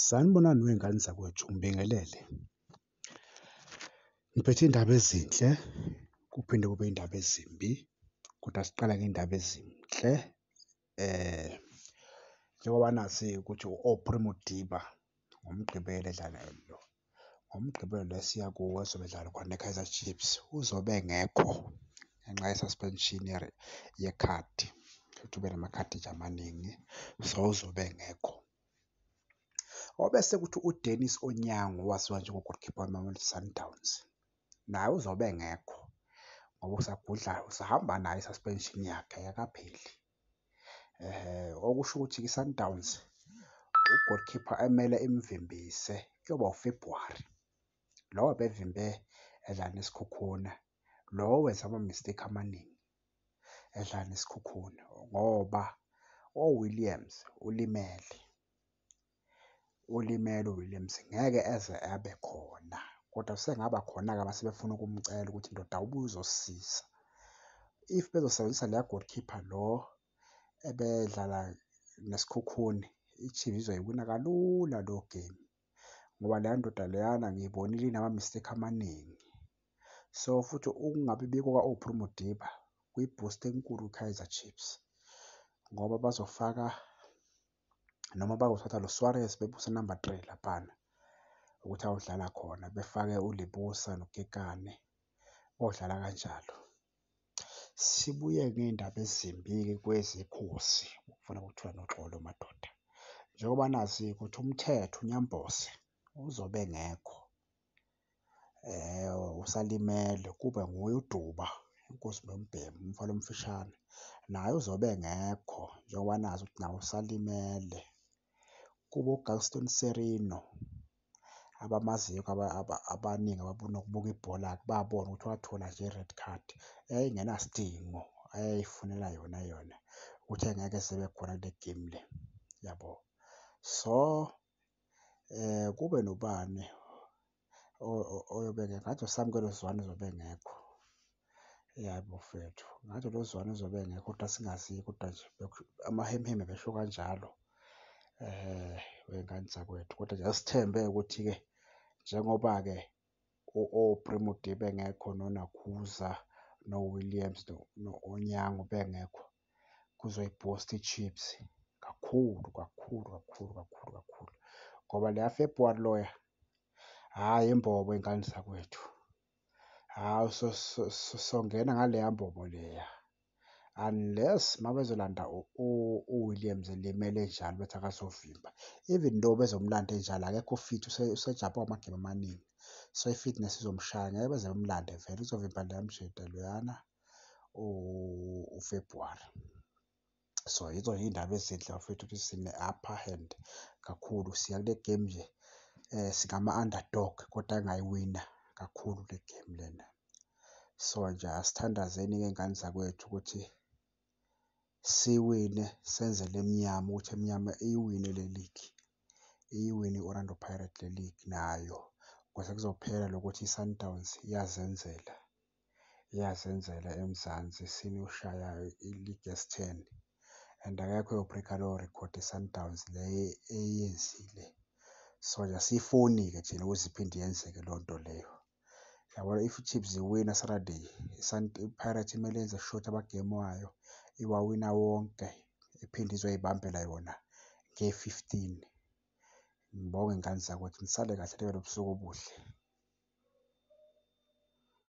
Sanibonani wey'ngane zakwethu, ngibingelele. Ngiphethe iy'ndaba ezinhle kuphinde kube iy'ndaba ezimbi kodwa siqale ngey'ndaba ezinhle njengoba nazi ukuthi u-Aubrey Modiba ngoMgqibelo edlala . ngoMgqibelo lo esiya kuwo ezobe edlala khona neKaizer Chiefs uzobe engekho ngenxa ye-suspension yekhadi futhi ube namakhadi nje amaningi so uzobe engekho. Obese kuthi uDenis Onyango owaziwa njengo-goalkeeper weMamelodi Sundowns naye uzobe engekho ngoba usagudla usahamba nayo i-suspension yakhe ayikapheli. okusho ukuthi kwiSundowns u-goalkeeper emele imvimbise kuyoba uFebruary. Lo ebevimbe edlala neSikhukhune, lo wenza ama-mistake amaningi edlala neSikhukhune ngoba oWilliams ulimele. ulimele uWilliams ngeke eze abe khona kodwa usengaba khona-ke uma sebefuna ukumcela ukuthi ndoda ubuye uzosisiza. If bezosebenzisa leya goalkeeper lo ebedlala nesikhukhuni iChiefs izoyiwina kalula lo game ngoba leya ndoda leyana ngiyibonile inama-mistake amaningi. So futhi ukungabi bikho kwa-Aubrey Modiba kuyiboost enkulu kwiKaizer Chiefs ngoba bazofaka noma bakuthatha lo Suarez bebuse number 3 laphana ukuthi awudlala khona befake ulibusa nokekane odlala kanjalo sibuye ngey'ndaba ezimbi-ke kwezekhosi ukufuna kuthiwa noxolo madoda njengoba nazi ukuthi umthetho unyambose uzobe engekho usalimele kube nguye uDuba inkosi noMbhemu umfana omfishane naye uzobe engekho njengoba nazi ukuthi nawo usalimele. Kube uGaston Sirino abamaziyo abaningi ababona ukubuka ibhola-ke babona ukuthi wathola nje i-red card eyayingenasidingo ayeyifunela yona yona ukuthi engeke esebekhona kule game le, yabo. So. eh kube nobani oyobeke ngathi uSamkelo Zwane uzobe engekho yabo mfethu ngathi lo Zwane uzobe engekho kodwa singazi kodwa nje amahemheme besho kanjalo um wengane zakwethu. Kodwa nje asithembe ukuthi-ke njengoba-ke oPremodie bengekho noNakhuza noWilliams no-Onyango bengekho kuzoyibhusta iChiefs kakhulu kakhulu kakhulu kakhulu kakhulu ngoba leya February loya hhayi imbobo ingane zakwethu hhayi songena ngaleya mbobo leya unless mabezolanda uWilliams elimele enjalo bethi akazovimba even though bezomlanda enjalo akekho fit usejabha amagame amaningi so i-fitness izomshaya ngeke beze bemlande vele uzovimba leya mjede loyana ufebruwari so yizo nje iy'ndaba ezinhle bafethu ukuthi sine-upper hand kakhulu siya kule game nje um singama-underdog kodwa engayiwina kakhulu le game lena So nje asithandazeni ngey'ngane zakwethu ukuthi siwine senzele emnyama ukuthi emnyama iyiwine le ligi. Iyiwine i-Orlando Pirates le ligi nayo ukuze kuzophela lokho ukuthi iSundowns iyazenzela, iyazenzela eMzansi isine ushaya iligi esi-ten and akekho oyo-break-a lowo record iSundowns le eyenzile. So nje asiyifuni-ke thina ukuthi iphinde yenzeke leyo nto leyo. Yabona if iChiefs iwina Saturday, iPirates imele yenze sure ukuthi amagemu wayo iwawina wonke, iphinde izoyibambela yona nge-fifteen. Ngibonge ngani zakwethu, nisale kahle nibe nobusuku obuhle.